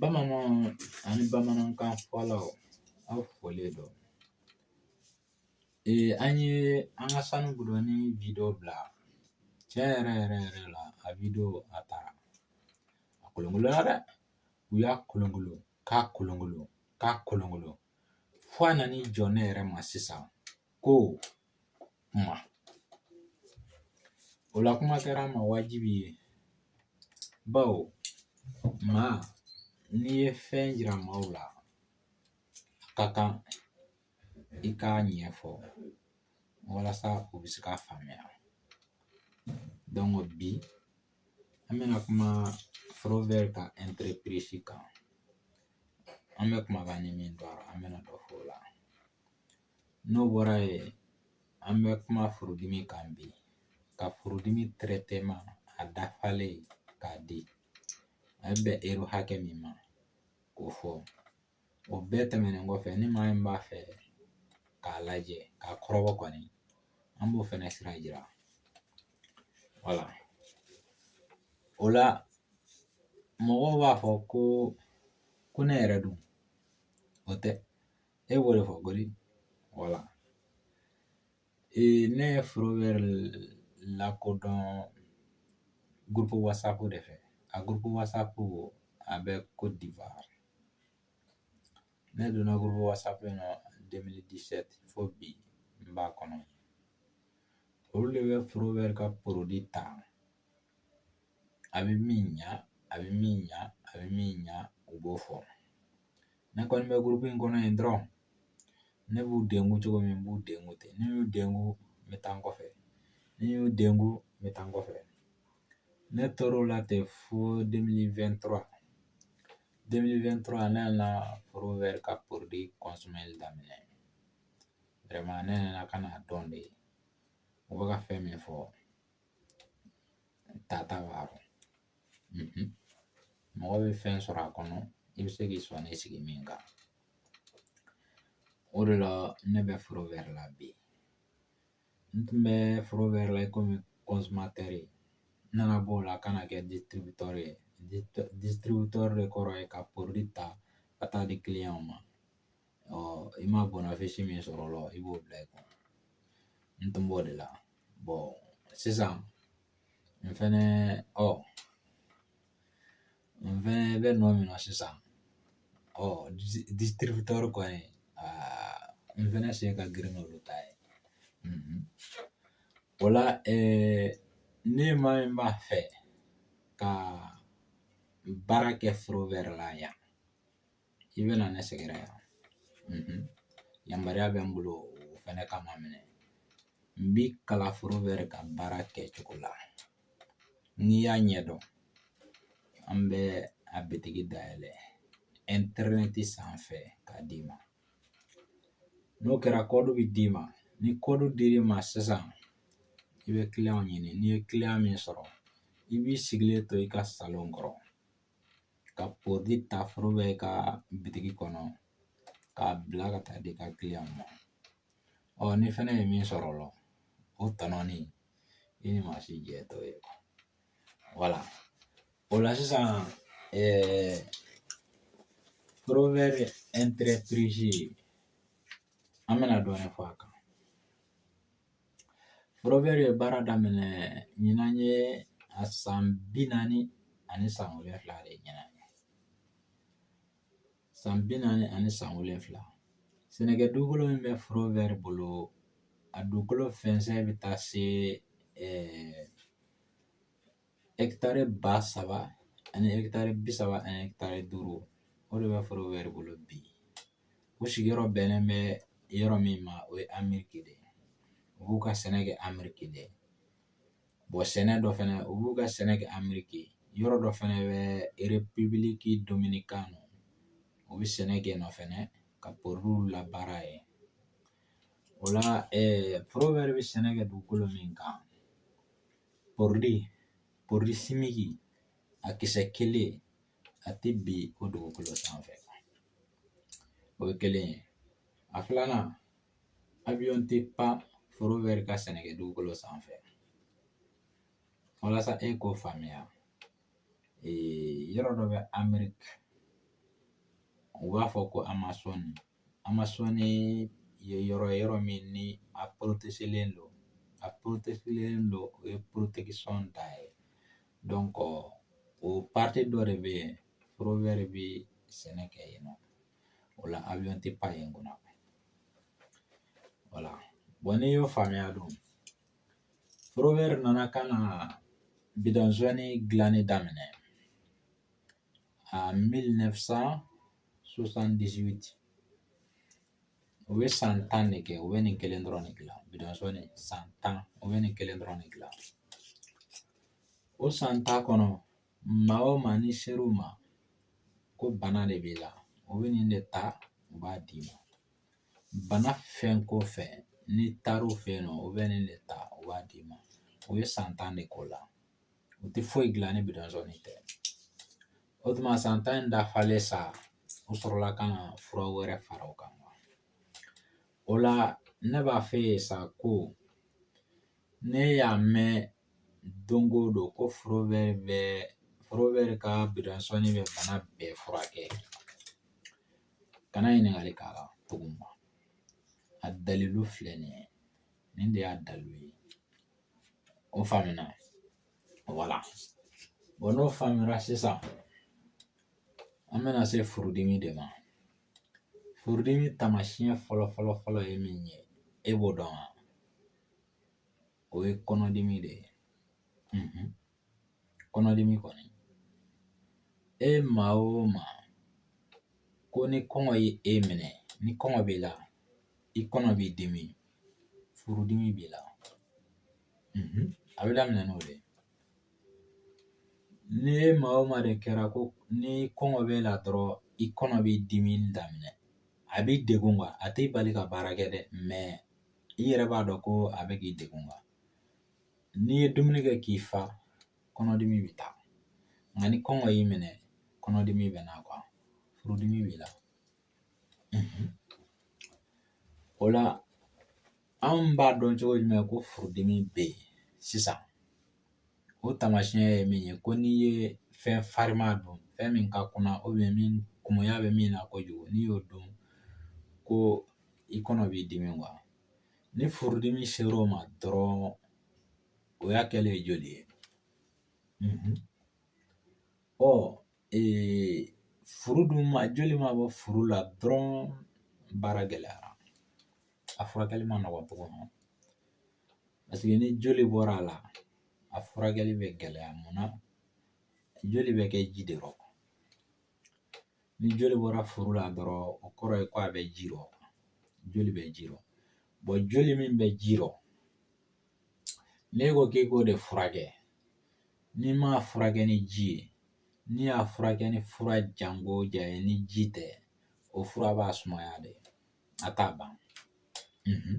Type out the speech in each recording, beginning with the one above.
Bamananw ani bamanankan fɔlaw aw folen don ee an ye an ka sanu gudoni video bila tiɲɛ yɛrɛ yɛrɛ yɛrɛ la a video a taara a kolonkolonna dɛ u y'a kolonkolo k'a kolonkolo k'a kolonkolo fo a nan'i jɔ ne yɛrɛ ma sisan ko O la kuma kɛra an ma wajibi ye bawo maa n'i ye fɛn jira maaw la a ka kan i k'a ɲɛfɔ walasa u bɛ se k'a faamuya donc bi an bɛna kuma Forever ka entreprise kan an bɛ kumakan ni min dɔn an bɛna dɔ fɔ o la N'o bɔra yen an bɛ kuma furudimi kan bi ka furudimi traitement a dafalen k'a di a bɛ bɛn ero hakɛ min ma k'o fɔ o bɛɛ tɛmɛnen kɔfɛ ni maa min b'a fɛ k'a lajɛ k'a kɔrɔbɔ kɔni an b'o fɛnɛ sira jira wala o la mɔgɔw b'a fɔ ko ko ne yɛrɛ dun o tɛ e b'o de fɔ gɔni wala ee ne ye Forever lakodɔn gurupu wasapu de fɛ a gurupu wasapu a bɛ Côte d'Ivoire ne donna gurupu wasapu in na 2017 fo bi n b'a kɔnɔ olu de bɛ Forever ka porodi ta a bɛ min ɲa a bɛ min ɲa a bɛ min ɲa u b'o fɔ ne kɔni bɛ gurupu in kɔnɔ yen dɔrɔn ne b'u dengu cogo min n b'u dengu ten ni n y'u dengu n bɛ taa n kɔfɛ ni n y'u dengu n bɛ taa n kɔfɛ ne tor'o la ten fo 2023 2023 ne nana Forever ka porodi kɔnsɔmɛli daminɛ vraiment ne nana ka n'a dɔn de u bɛ ka fɛn min fɔ tata b'a rɔ mɔgɔ bɛ fɛn sɔrɔ a kɔnɔ i bɛ se k'i sɔnin sigi min kan o de la ne bɛ Forever la bi n tun bɛ Forever la i komi kɔnsumatɛri ye n nana bɔ o la ka na kɛ distributɔri ye distributɔri de kɔrɔ ye ka porodi ta ka taa di kiliyanw ma ɔ i ma bɔnafisi min sɔrɔ o la i b'o bila i kun n tun b'o de la bon sisan n fɛnɛ ɔ n fɛnɛ bɛ nɔ min na sisan ɔ disitiributɛri kɔni aa n fɛnɛ sen ka girin n'olu ta ye o la ni maa min b'a fɛ ka baara kɛ forɛvɛri la yan i bɛna ne sɛgɛrɛ yan yamaruya bɛ n bolo o fɛnɛ ka maa minɛ n b'i kalan forɛvɛri ka baara kɛ cogo la n'i y'a ɲɛdɔn an bɛ a bitigi dayɛlɛ ɛntɛrɛnɛti sanfɛ k'a d'i ma n'o kɛra kɔdi bɛ d'i ma ni kɔdi dir'i ma sisan i bɛ kiliyanw ɲini n'i ye kiliyan min sɔrɔ i b'i sigilen to i ka salon kɔrɔ ka pɔrɔdi ta forɛvɛri ka bitigi kɔnɔ k'a bila ka taa di i ka kiliyanw ma ɔ n'i fɛnɛ ye min sɔrɔ o la o tɔnɔni i ni maa si jɛ t'o ye wala o la sisan forɛvɛri ɛnterepirizi an bɛna dɔɔnin fɔ a kan Forɛvɛri ye baara daminɛ ɲinan ye a san bi naani ani san wolonfila de ɲinan san bi naani ani san wolonfila sɛnɛkɛ dugukolo min bɛ forɛvɛri bolo a dugukolo fɛnsɛn bɛ taa se ɛɛ ɛkitari ba saba ani ɛkitari bi saba ani ɛkitari duuru o de bɛ forɛvɛri bolo bi o sigiyɔrɔ bɛnnen bɛ yɔrɔ min ma o ye ameriki de ye u b'u ka sɛnɛ kɛ ameriki de ye sɛnɛ dɔ fɛnɛ u b'u ka sɛnɛ kɛ ameriki yɔrɔ dɔ fɛnɛ bɛ erepibiliki dominikɛni u bɛ sɛnɛ kɛ yen nɔ fɛnɛ ka pɔrɔdiw labaara yen o la forɛvɛri bɛ sɛnɛ kɛ dugukolo min kan Pɔrɔdi, pɔrɔdi simiki, a kisɛ kelen a tɛ bin o dugukolo sanfɛ o ye kelen ye a filanan abiyɔn tɛ pan forɛvɛri ka sɛnɛkɛ dugukolo sanfɛ walasa e k'o faamuya yɔrɔ dɔ bɛ ameriki u b'a fɔ ko amazɔni an ma sɔnni ye yɔrɔ ye yɔrɔ min ni a len don a len don o ye da ye o dɔ de bɛ yen bɛ sɛnɛ kɛ yen nɔ o la a bɛ tɛ pan yen kunna wala n'i y'o faamuya dun nana ka na bidɔn sɔnni dilanni daminɛ en 1978 u ye san tan de kɛ u bɛ nin kelen dɔrɔn de dilan bidon jaune san tan u bɛ nin kelen dɔrɔn de dilan o san tan kɔnɔ maa o maa ni ser'u ma ko bana de b'i la u bɛ nin de ta u b'a d'i ma bana fɛn ko fɛn n'i taar'u fɛ yen nɔ u bɛ nin de ta u b'a d'i ma u ye san tan de k'o la u tɛ foyi dilan ni bidon jaune tɛ o tuma san tan in dafalen sa u sɔrɔla ka na fura wɛrɛ fara o kan o la ne b'a f'e ye sa ko n'e y'a mɛn don o don ko Forever bɛ Forever ka bidon jaune bɛ bana bɛɛ furakɛ kana ɲininkali k'a la tuguni a dalilu filɛ nin ye nin de y'a dalilu ye O faamuna voilà bon n'o faamuyara sisan an bɛna se furudimi de ma furudimi taamasiyɛn fɔlɔ fɔlɔ fɔlɔ ye min ye e b'o dɔn wa o ye kɔnɔdimi de ye Kɔnɔdimi kɔni e maa o maa ko ni kɔngɔ ye e minɛ ni kɔngɔ b'i la i kɔnɔ b'i dimi furudimi b'i la a bɛ daminɛ n'o de ye ni e maa o maa de kɛra ko ni kɔngɔ b'e la dɔrɔn i kɔnɔ b'i dimi daminɛ a b'i degun quoi a t'i bali ka baara kɛ dɛ mais i yɛrɛ b'a dɔn ko a bɛ k'i degun N'i ye dumuni kɛ k'i fa kɔnɔdimi bɛ taa nka ni kɔngɔ y'i minɛ kɔnɔdimi bɛ na quoi furudimi b'i la o la anw b'a dɔn cogo jumɛn ko furudimi bɛ yen sisan o taamasiyɛn ye min ye ko n'i ye fɛn farima dun fɛn min ka kunna min kumuya bɛ min na kojugu n'i y'o dun ko i kɔnɔ b'i dimi Ni furudimi ser'o ma dɔrɔn o y'a kɛlen ye joli ye mhm. ɔ furu dun ma joli ma bɔ furu la dɔrɔn baara gɛlɛyara a furakɛli man nɔgɔn tugun parce que ni joli bɔra a la a furakɛli bɛ gɛlɛya mun na joli bɛ kɛ ji de rɔ ni joli bɔra furu la dɔrɔn o kɔrɔ ye ko a bɛ ji rɔ joli bɛ ji rɔ bon joli min bɛ ji rɔ n'e ko k'i k'o de furakɛ n'i m'a furakɛ ni ji ye n'i y'a furakɛ ni fura janko ja ye ni ji tɛ o fura b'a sumaya de a t'a ban mhm.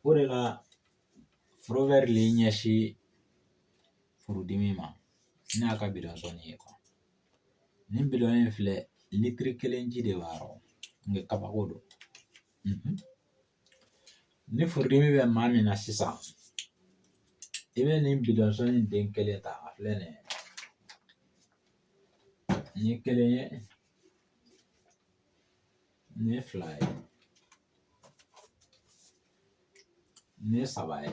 o de la forowɛri le ɲɛsin furudimi ma n'a ka bidɔn zɔni ye nin bidɔn in filɛ litiri kelen ji de b'a rɔ nka kabako don mhm. ni furudimi bɛ maa min na sisan i bɛ nin bidɔn zɔni den kelen ta a filɛ nin ye nin ye kelen ye nin ye fila ye nin ye saba ye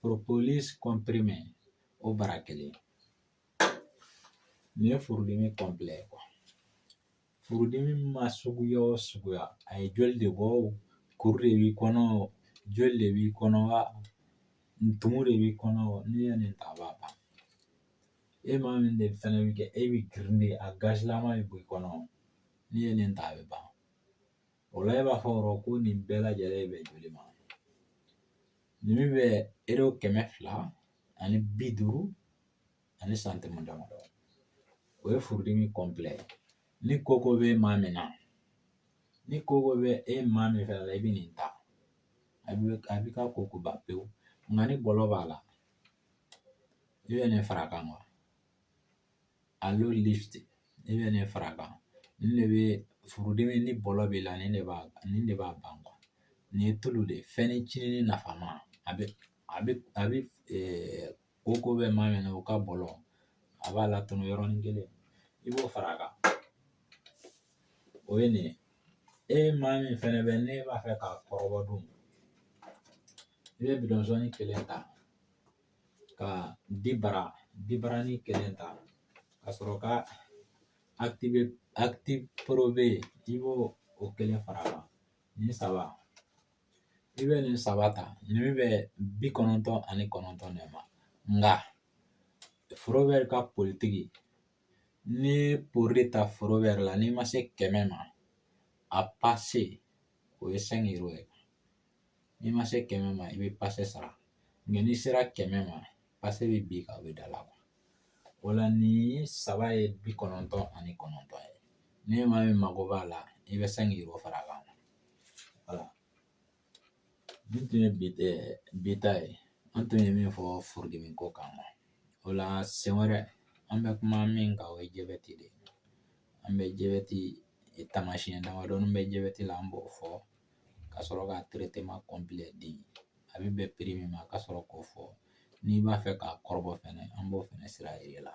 propolis kɔnprime o bara kelen nin ye furudimi kɔnpilɛ quoi furudimi ma suguya o suguya a ye joli de bɔ o kuru de b'i kɔnɔ o joli de b'i kɔnɔ wa tumu de b'i kɔnɔ o n'i ye nin ta a b'a ban e maa min de fɛnɛ bɛ kɛ e bɛ girindi a gazilama bɛ bɔ i kɔnɔ n'i ye nin ta a bɛ ban O la e b'a fɔ yɔrɔ ko nin bɛɛ lajɛlen bɛ joli ma nin min bɛ ero kɛmɛ fila ani bi duuru ani santimu damadɔ o ye furudimi kɔnpilɛ ye ni koko bɛ maa min na ni koko bɛ e maa min fɛnɛ la i bɛ nin ta a bɛ a b'i ka koko ban pewu nka ni bɔlɔ b'a la i bɛ nin fara a kan wa alo lifti i bɛ nin fara a kan nin de bɛ furudimi ni bɔlɔ b'i la nin de b'a nin de b'a ban nin ye tulu de ye fɛnnin cinini nafama a bɛ a bɛ a bɛ koko bɛ maa min na o ka bɔlɔ a b'a latunu yɔrɔnin kelen i b'o fara a kan o ye nin ye e maa min fɛnɛ bɛ ne b'a fɛ k'a kɔrɔbɔ dun i bɛ bidɔn zɔni kelen ta ka dibara dibaranin kelen ta ka sɔrɔ ka akitifu probe i b'o o kelen fara a kan nin saba i bɛ nin saba ta nin bɛ bi kɔnɔntɔn ani kɔnɔntɔn de ma nka forowɛri ka politiki n'i ye porodi ta forowɛri la n'i ma se kɛmɛ ma a pase o ye sɛnki ero ye n'i ma se kɛmɛ ma i bɛ pase sara nka n'i sera kɛmɛ ma pase bɛ bin ka o bɛ da la o la nin saba ye bi kɔnɔntɔn ani kɔnɔntɔn ye ni maa min mago b'a la i bɛ cinq euros fara a kan voilà nin tun ye bi ta ye an tun ye min fɔ furudimi ko kan o la sen wɛrɛ an bɛ kuma min kan o ye jabɛti de ye an bɛ jabɛti taamasiyɛn damadɔni bɛ jabɛti la an b'o fɔ ka sɔrɔ ka traitement complet di a bɛ bɛn prix min ma ka sɔrɔ k'o fɔ n'i b'a fɛ k'a kɔrɔbɔ fɛnɛ an b'o fɛnɛ sira yir'e la